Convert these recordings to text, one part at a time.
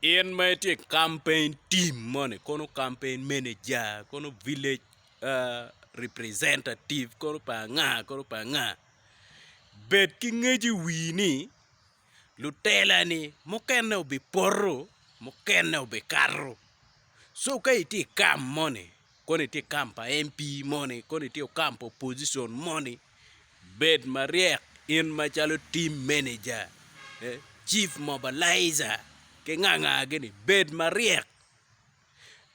In ma itye i campaign team moni kono campaign manager kono village representative kono pa anga kono pa anga bed ki ngec i wii ni lutela ni mukene obi poto mukene obi kato so ka itye i kam moni Koni itye i kamp pa MP moni, koni itye i kamp pa opposition moni, bed maryek in macalo team manager, eh, chief mobilizer ki nga nga gini, bed maryek.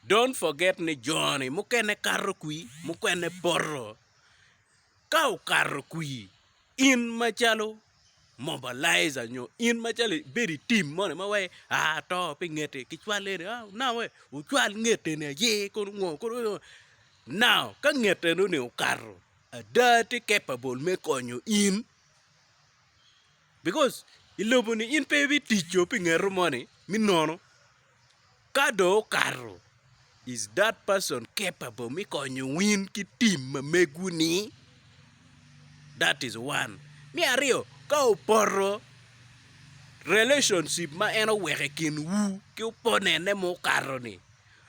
Don't forget ni joni mukene kato kwi, mukene poto. Ka okato kwir, in macalo mobilizer nyo in macalo ibedo i tim moni ma wai aa to pi ngete ki cwal eni aa now wai wucwal ngete ni aye kono ngo kono ngo now ka ngete nongo okato ada tye capable me konyo in Because i lobo ni in pe ibi tico pi ngeto moni mi nono ka do okato is that person capable mi konyo win ki team ma megu ni that is one mi ariyo ka opoto relationship ma en oweko i kin wu ki opponent ne ma okato ni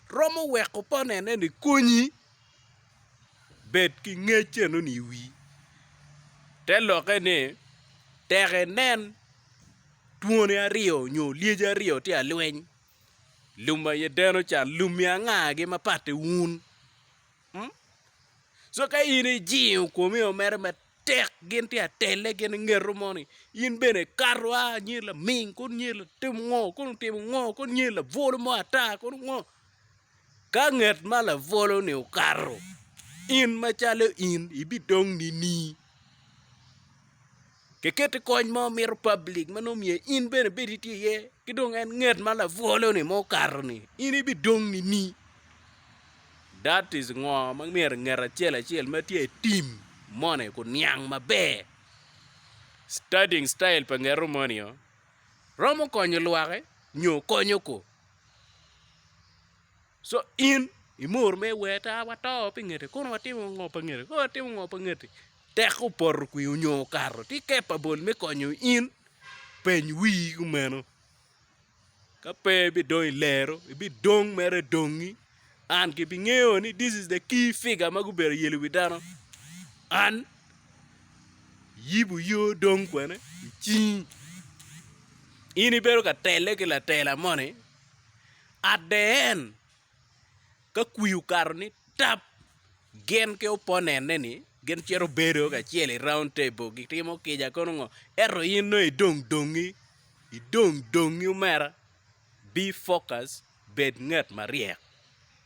romo weko opponent ne ni konyi. bed ki ngec enoni i wii, te lokke ni, Tek inen twoni aryo nyo lyeci aryo tye alweny, lum aye deno can, lum i angagi ma pati wun? Co ka in ijingo komi o mere matek gin tye atelle gin i ngeto moni, in bene ikato a nyer laming, kono nyer latim ngo, kono otimo ngo, kono nyer labwolo mo ata, kono ngo. Ka ngat ma labwolo-ni okato, in macalo in ibidong nining? Kiketi kony mo mito public ma nongo myero in bene ibed itye iye ki dong en ngat ma labwolo-ni ma okato-ni in ibidong nining? That is ngo ma myero ngat acel acel ma tye i tim moni kuniang maber. Studying style pa ngato moni-o romo konyo lwaki nyo konyo ko? Co in imor me weta wato pi ngete kono watimo ngo pa ngete? Ka watimo ngo pa ngete teko opoto kwi onyo okato tye capable me konyo in? Peny wii kumeno. Ka pe ibidong ilero ibidong mere dongi. and ki bi ngeyo ni this is the key figure ma gubedo yelo wi dano and yibu yo dong kwene i cingi in ibedo ka tele ki latela moni at the end ka kwi okato ni tap gin ki opponent ne ni gin cito bedo kacel i round table gitimo kica kono ngo eto in dong idong dongi. I dong dongi omera, be focus, bed ngat maryek.